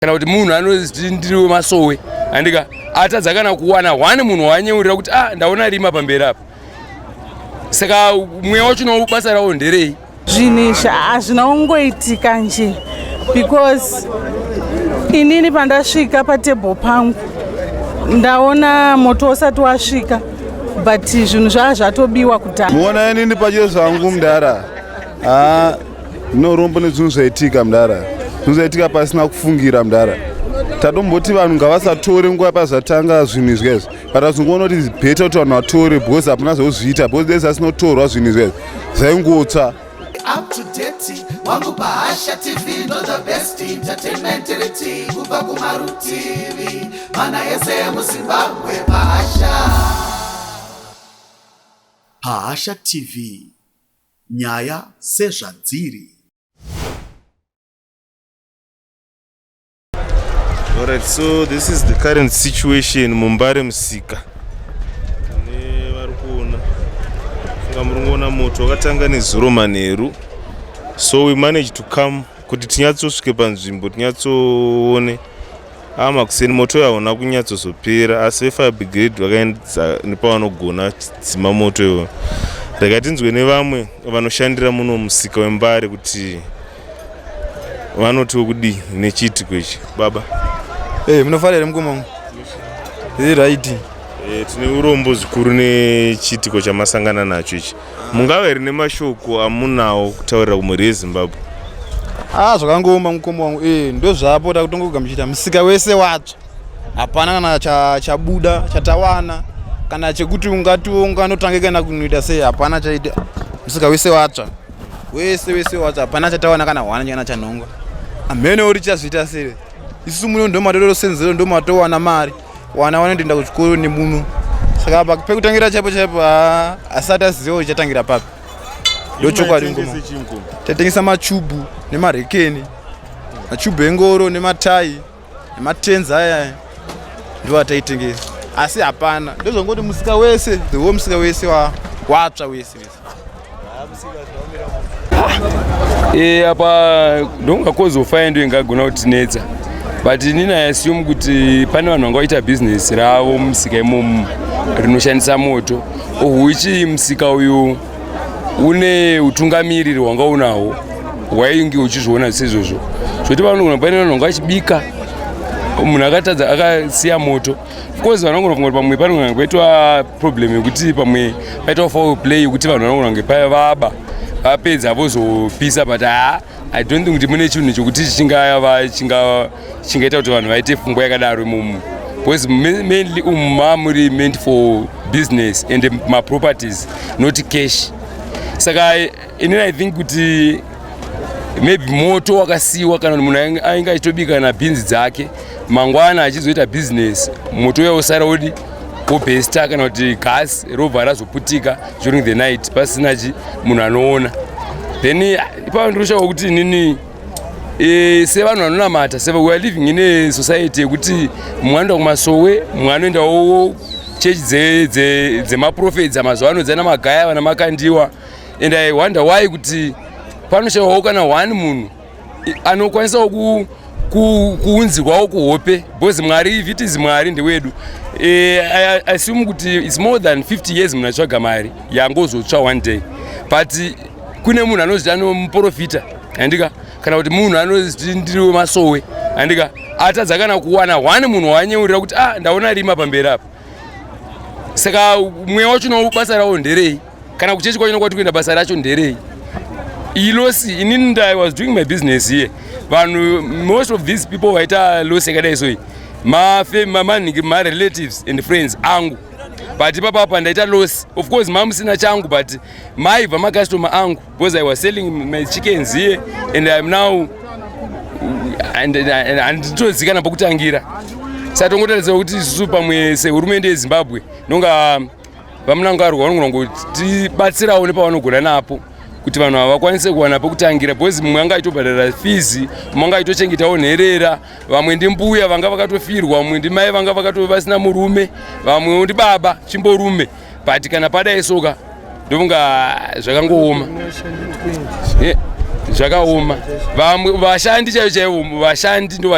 kana kuti munhu anoti ndiri wemasowe andika atadza kana kuwana one munhu waanyeurira kuti ah ndaona rima pamberi apa saka mweya wacho no basa rawo nderei zvinhu izvi hazvina kungoitika nje because inini pandasvika patable pangu ndaona moto usati wasvika but zvinhu zvaa zvatobiwa kudhara muona inini pacho zvangu mdara ah. No rombo nezvinhu zvaitika mdara. Zvinhu zvaitika pasina kufungira mdara. Tadomboti vanhu ngavasatore nguva pazvatanga zvinhu izvi guys. But azongoona kuti better kuti vanhu vatore because hapana zvozviita because dai zvasinotorwa zvinhu izvi guys. Zvaingotsva. Up to date wangu pahasha tv ndo the best entertainment riti kubva kumarutivi mana ese emuzimbabwe pahasha pahasha tv nyaya sezvadziri. Alright, so this is the current situation muMbare Musika. Ne vari kuona. Funga muri kuona moto wakatanga nezuro manheru. So we managed to come kuti tinyatsosvike panzvimbo tinyatsoone Ah, makuseni moto uyo hauna kunyatsozopera asi vefire brigade vakaendza nepavanogona chidzima moto iwo rega tinzwe nevamwe vanoshandira muno musika wembare kuti vanotiwo kudii nechiitiko ichi baba hey, eh, munofara here mukomamo iright hey, eh, tine urombo zvikuru nechiitiko chamasangana nacho ichi mungave rine mashoko amunawo kutaurira kumhuri yezimbabwe ah zvakangooma mukoma wangu ee eh, ndozvapo takutongogamuchita musika wese watsva hapana kana chabuda cha chatawana kana chekuti ungatiwo unganotange kana kunoita sei hapana chaita musika wese watsva wese wese watsva hapana chatawana kana hwana chana chanhongwa amhene uri chazviita sere isu muno ndomatorosenzero ndomatowana mari wana vanotoenda kuchikoro nemuno saka apa pekutangira chaipo chaipo asati aziva kuti chatangira papi ndo chokwadi ngoma tatengesa machubu nemarekeni machubu engoro nematai nematenzi ayaya ndo ataitengesa asi hapana ndozvangoti musika wese the whole musika wese watsva wese e apa ndonga kozo faya ndo ingagona kutinetsa but inini i assume kuti pane vanhu vanga vaita bhizinesi ravo mumusika imomu rinoshandisa moto ohuichi musika uyu une utungamiriri hwanga unahwo hwainge uchizviona seizvozvo zvoti vanogona pane vanhu vanga vachibika munhu akatadza akasiya moto coz vanogona kunge pamwe panogona paitwa problem yekuti pamwe paitwa foul play yekuti vanhu vanogona kunge paya vaba vapedza vozopisa but haa i don't think kuti mune chinhu chokuti chingaita kuti vanhu vaite fungwa yakadaro imomo because mainly umu mamuri meant for business and maproperties not cash saka Ini I think kuti maybe moto wakasiiwa kana kuti munhu ainge achitobika kana bhinzi dzake mangwana achizoita business moto uya usara odi wobhesta kana kuti gas robva razoputika during the night pasina chi munhu anoona then ipapo ndiri kushava kuti inini e, sevanhu vanonamata se weare living in a society yekuti mumwe anoenda kumasowe mumwe anoendawo chechi dzemaprofeti dzamazuva ano dzana magaya vana makandiwa and i wonder why kuti panoshawawo kana one munhu anokwanisawo ku kuunzirwawo kuhope because mwari if it is mwari ndewedu e, I assume kuti its more than 50 years munhu atsvaga mari yangozotsva one day but kune munhu anoziti anomuprofita handika kana kuti munhu anoziti ndiriwe masowe handika atadza kana kuwana one munhu waanyeurira kuti ah ndaona rima pamberi apa saka mweya wacho no basa rawo nderei kana kuchechi kwacho nokwati kuenda basa racho nderei ilosi inini nda i was doing my business here vanhu most of these people vaita losi yakadai soi mamanhingi marelatives and friends angu but ipapapa ndaita losi of course mamusina changu but maibva macustomer angu because i was selling my chickens here and iam now handitozikana pokutangira satongotarisira kuti isusu pamwe sehurumende yezimbabwe nonga VaMnangagwa vanogona kutibatsirawo nepavanogona napo kuti vanhu ava vakwanise kuwana pekutangira because mumwe anga aitobhadhara fizi mumwe anga aitochengetawo nherera vamwe ndimbuya vanga vakatofirwa vamwe ndimai vanga vakatove vasina murume vamwewo ndibaba chimborume but kana padai soka ndovonga zvakangooma zvakaoma vamwe vashandi chaivo chaivo vashandi ndo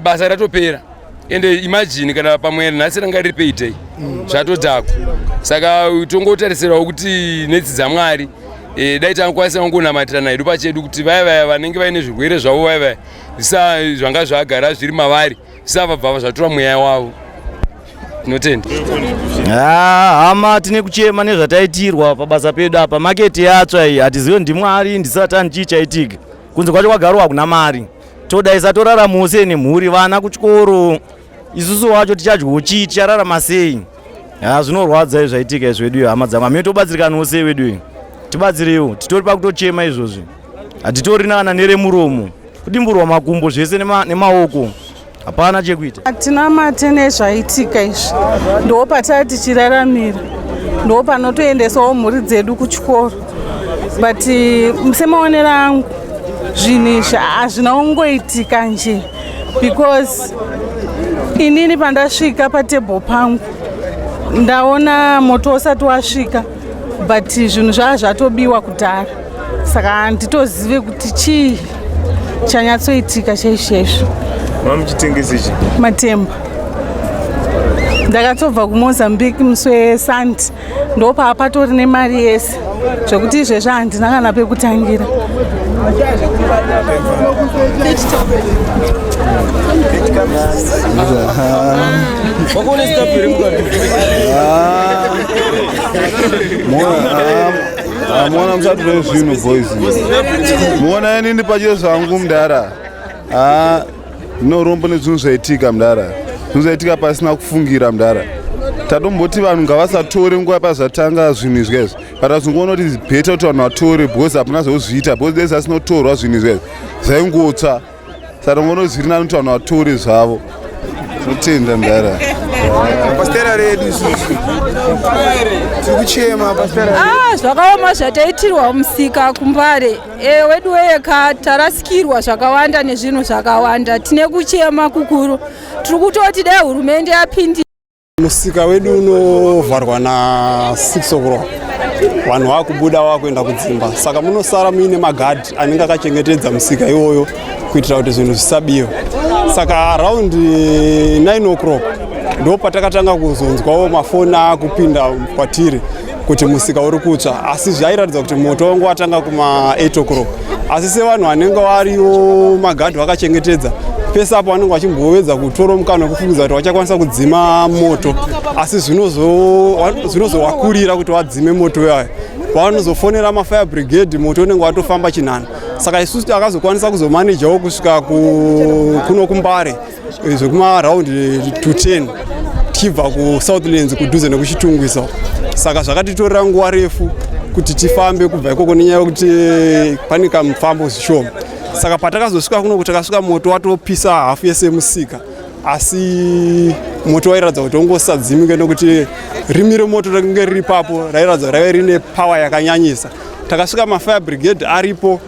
basa ratopera ende imagine kana pamwe nhasi ranga riri payday mm. zvatodhako saka tongotarisirawo kuti netsi dzamwari e, dai tangakwanisa kungonamatira naedu pachedu kuti vaya vaya vanenge vaine zvirwere zvavo vaya vaya zisa zvanga zvagara zviri mavari zisavabva zvatura mweya wavo tinotenda ah, hama tine kuchema nezvataitirwa pabasa pedu apa maketi yatsva iyi hatizive ndimwari ndisatani chii chaitika kunze kwacho kwagarwa hakuna mari todaisa torara mose nemhuri vana kuchikoro isusu wacho tichadyawo chii tichararama sei ha zvinorwadza izvaitika izvedu hama dzangu amene tobatsirikanawo sei vedu tibatsireiwo titori pakutochema izvozvi hatitori naana neremuromo kudimburwa makumbo zvese nemaoko hapana chekuita hatina mate nezvaitika izvi ndo pataa tichiraramira ndo panotoendesawo mhuri dzedu kuchikoro but uh, semaonero angu zvinhu izvi hazvina kungoitika nje because inini pandasvika patable pangu ndaona moto usati wasvika but zvinhu zvaa zvatobiwa kudhara saka handitozive kuti chii chanyatsoitika chaizvezvo mamuchitengesechi matemba ndakatobva kumozambique musi wesanti ndopaa patori nemari yese zvekuti izvezvi handina kana pekutangira mona musatore zvinhu boys mona ini ndipachezvangu mdara No rombo nezvinhu zvaitika mdara. Zvinhu zvaitika pasina kufungira mdara. Tadomboti vanhu ngavasatore nguva pazvatanga zvinhu izvi guys. But azongoona kuti better kuti vanhu vatore because hapana zvozviita because dai zvasinotorwa zvinhu izvi guys. Zvaingotsva. Saka ngono zviri nani kuti vanhu vatore zvavo. Totenda mdara. Pastera redu isusu. Tikuchema pastera. Ah, zvakaoma zvataitirwa musika kumbare. E, wedu weyeka tarasikirwa zvakawanda nezvinhu zvakawanda tine kuchema kukuru tiri kutoti dai hurumende yapindi musika wedu unovharwa na 6 o'clock vanhu vakubuda vakuenda kudzimba saka munosara muine magadhi anenge akachengetedza musika iwoyo kuitira kuti zvinhu zvisabiwa saka around 9 o'clock ndo patakatanga kuzonzwawo mafoni akupinda kwatiri kuti musika uri kutsva asi zvairatidza kuti moto wangu watanga kuma 8 o'clock asi sevanhu vanenge variwo magadhi vakachengetedza pese apo vanenge vachimbovedza kutora mukana wekufungidza kuti vachakwanisa kudzima moto asi zvinozovakurira kuti vadzime moto iwayo vanozofonera mafire brigade moto unenge watofamba chinhana saka isusu takazokwanisa kuzomanejawo kusvika kuno kumbare zvekuma round to 10 tichibva kusouthlands kudhuze nekuchitungwisa saka zvakatitorera nguva refu kuti tifambe kubva ikoko nenyaya yekuti pane kamufambo zvishoma saka patakazosvika kuno kuti takasvika moto watopisa hafu yese musika asi moto wairatidza kuti ongosadzimike nokuti rimi remoto rainge riri papo rairatidza raive rine power yakanyanyisa takasvika mafire brigade aripo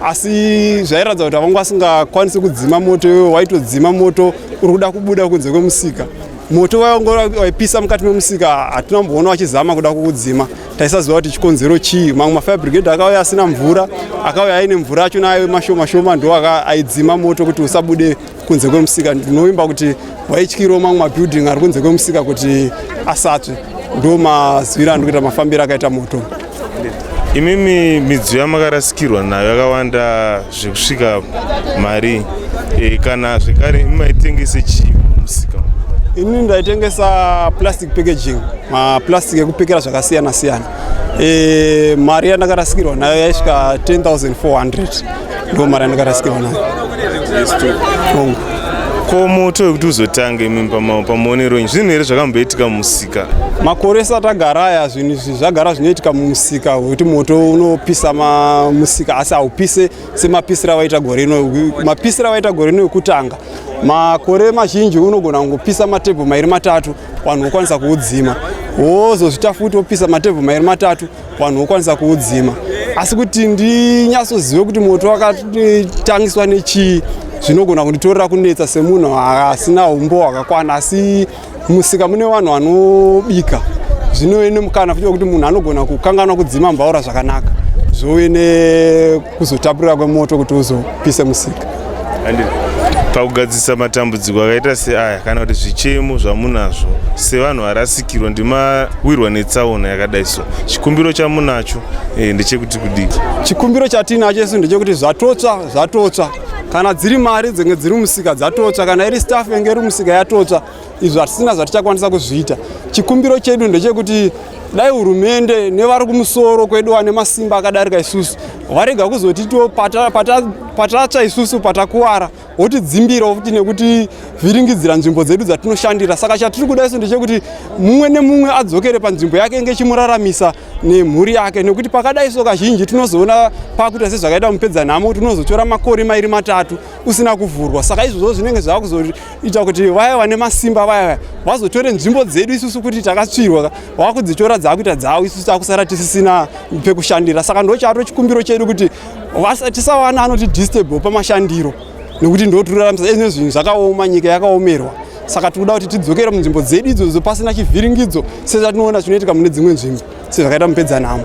asi zvairatidza kuti havanga vasingakwanisi kudzima moto iwe waitodzima moto uri kuda kubuda kunze kwemusika moto waipisa mukati memusika hatina mboona vachizama kuda kuudzima taisaziva kuti chikonzero chii mamwe mafire brigade akauya asina mvura akauya aine mvura acho nayo mashoma shoma ndo aidzima moto kuti usabude kunze kwemusika ndinovimba kuti waityiro mamwe mabuilding ari kunze kwemusika kuti asatsve ndo mazwira andikuita mafambiro akaita moto imimi midziyo yamakarasikirwa nayo yakawanda zvekusvika mari e, kana zvekare imi maitengese chii musika ini ndaitengesa plastic packaging maplastic ekupekera zvakasiyana siyana e, mari yandakarasikirwa nayo yaisvika 10400 ndo mari andakarasikirwa nayo hongu ko moto wekuti uzotange imi pamuonero nyi zvinhu here zvakamboitika mumusika makore sati agara aya zvinhu izvi zvagara zvinoitika mumusika wekuti moto unopisa musika asi haupise semapisiro avaita gore ino mapisiro avaita gore ino ekutanga makore mazhinji unogona kungopisa matebho mairi matatu vanhu vokwanisa kuudzima wozozvita futi wopisa matebho mairi matatu vanhu vokwanisa kuudzima asi kuti ndinyatsozive kuti moto wakatangiswa nechii zvinogona kunditorera kunetsa semunhu asina umbo hwakakwana asi musika mune vanhu vanobika zvinove nemukana futi wekuti munhu anogona kukanganwa kudzima mbaura zvakanaka zvove kuzotapurira kwemoto kuti uzopise musika and pakugadzirisa matambudziko akaita seaya kana kuti zvichemo zvamunazvo sevanhu varasikirwa ndimawirwa netsaona yakadai so chikumbiro chamunacho eh, ndechekuti kudii chikumbiro chatiinacho isu ndechekuti zvatotsva zvatotsva kana dziri mari dzenge dziri musika dzatotsva kana iri staff yenge iri musika yatotsva izvo hatisina zvatichakwanisa kuzviita chikumbiro chedu ndechekuti dai hurumende nevari kumusoro kwedu vane masimba akadarika isusu varega kuzotitiwo patatsva isusu patakuwara wotidzimbirawo futi nekuti vhiringidzira nzvimbo dzedu dzatinoshandira saka chatiri kuda isu ndechekuti mumwe nemumwe adzokere panzvimbo yake inge chimuraramisa nemhuri yake nekuti pakadai so kazhinji tinozoona pakuita sezvakaita mupedza nhamo tinozotora makore mairi matatu usina kuvhurwa saka izvozvo zvinenge zvava kuzoita kuti vaya vane masimba vaya vaya vazotore nzvimbo dzedu isusu kuti takatsvirwa vava kudzitora dzakuita dzavo isusu takusara tisisina pekushandira saka ndo chato chikumbiro chedu kuti tisawana anoti distable pamashandiro nekuti ndotiruraramisa ezvine zvinhu zvakaoma nyika yakaomerwa saka tikuda kuti tidzokere munzvimbo dzedu idzodzo pasina chivhiringidzo sezvatinoona zvinoitika mune dzimwe nzvimbo sezvakaita mupedzanhamo